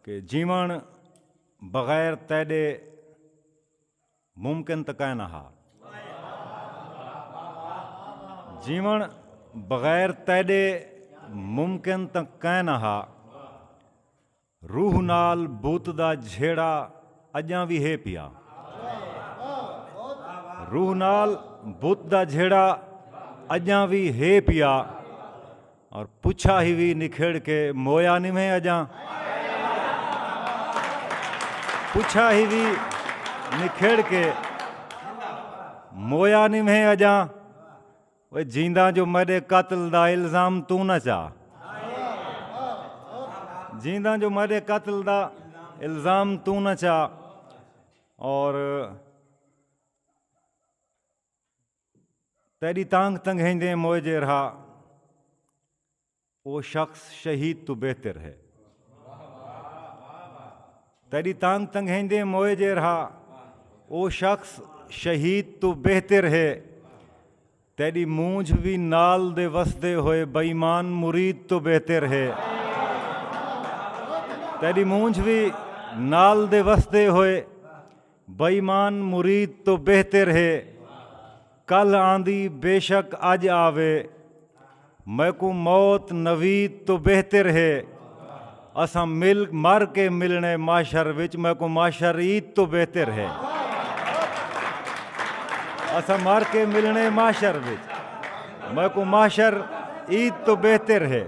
کہ جیون بغیر تیڈے ممکن تو کائنا ہا جیون بغیر تیڈے ممکن تو کائنا ہا روح نال بوت دا جھیڑا اجاں بھی ہے پیا روح نال بوت دا جھیڑا اجاں بھی ہے پیا اور پچھا ہی وی نکھیڑ کے مویا نی میں اجاں پچھا ہی وی نکھیڑ کے مویا نی میں اجاں وہ جیندہ جو میرے قتل دا الزام تو نہ چاہ جیندہ جو میرے قتل دا الزام تو نہ چاہ اور تیڈی تانگھ تنگھیندیں موئے جیرھا او شخص شہید توں بہتر ہے تیڈی تانگھ تنگھیندیں موئے جیرھا او شخص شہید تو بہتر ہے تیڈی مونجھ بھی نال دے وسدے ہوئے بئیمان مرید تو بہتر ہے تیڈی مونجھ بھی نال دے وسدے ہوئے بے ایمان مرید توں بہتر ہے۔ کلھ آندی بے شک اج آوے۔ میکوں موت نوید توں بہتر ہے۔ اساں مل مر کے ملنے محشر وچ میکوں محشر عید توں بہتر ہے۔ اساں مر کے ملنے محشر وچ میکوں محشر عید توں بہتر ہے۔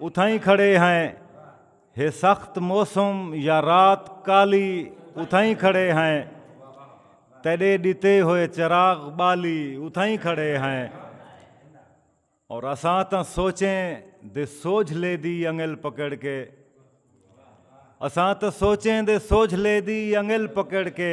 اتھائیں کھڑے ہیں ہے سخت موسم یا رات کالی اتھائیں کھڑے ہیں تیڈے ڈتے ہوئے چراغ بالی اتھائیں کھڑے ہیں اور اساں تاں سوچیں دے سوجھ لے دی انگل پکڑ کے اساں تاں سوچیں دے سوجھ لے دی انگل پکڑ کے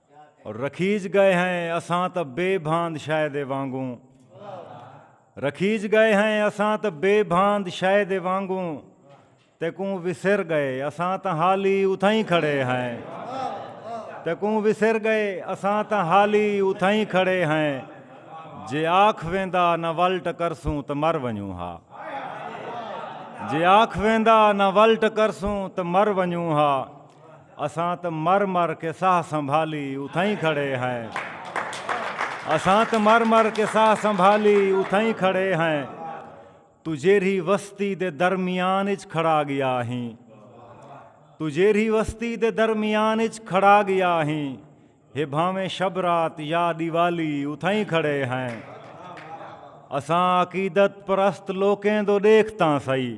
رکھیج گئے ہیں اساں تاں بے بھاند شے دے وانگوں رکھیج گئے ہیں اساں تاں بے بھاند شے دے وانگوں تے کوں وسر گئے اساں تاں حالی اتھائیں کھڑے ہیں تے کوں وسر گئے اساں تاں حالی اتھائیں کھڑے ہیں جے آکھ ویندا نہ ول ٹکرسوں تے مر ونجوں ہا جے آکھ ویندا نہ ول ٹکرسوں تے مر ونجوں ہا اساں تاں مر مر کے ساہ سنبھالی اتھائیں کھڑے ہیں اساں تاں مر مر کے ساہ سنبھالی اتھائیں کھڑے ہیں تو جیرھی وستی دے درمیان اچ کھڑا گیا ہیں تو جیرھی وستی دے درمیان اچ کھڑا گیا ہیں ہے بھاویں شب رات یا دیوالی اتھائیں کھڑے ہیں اساں عقیدت پرست لوکیں دو دیکھتاں سائی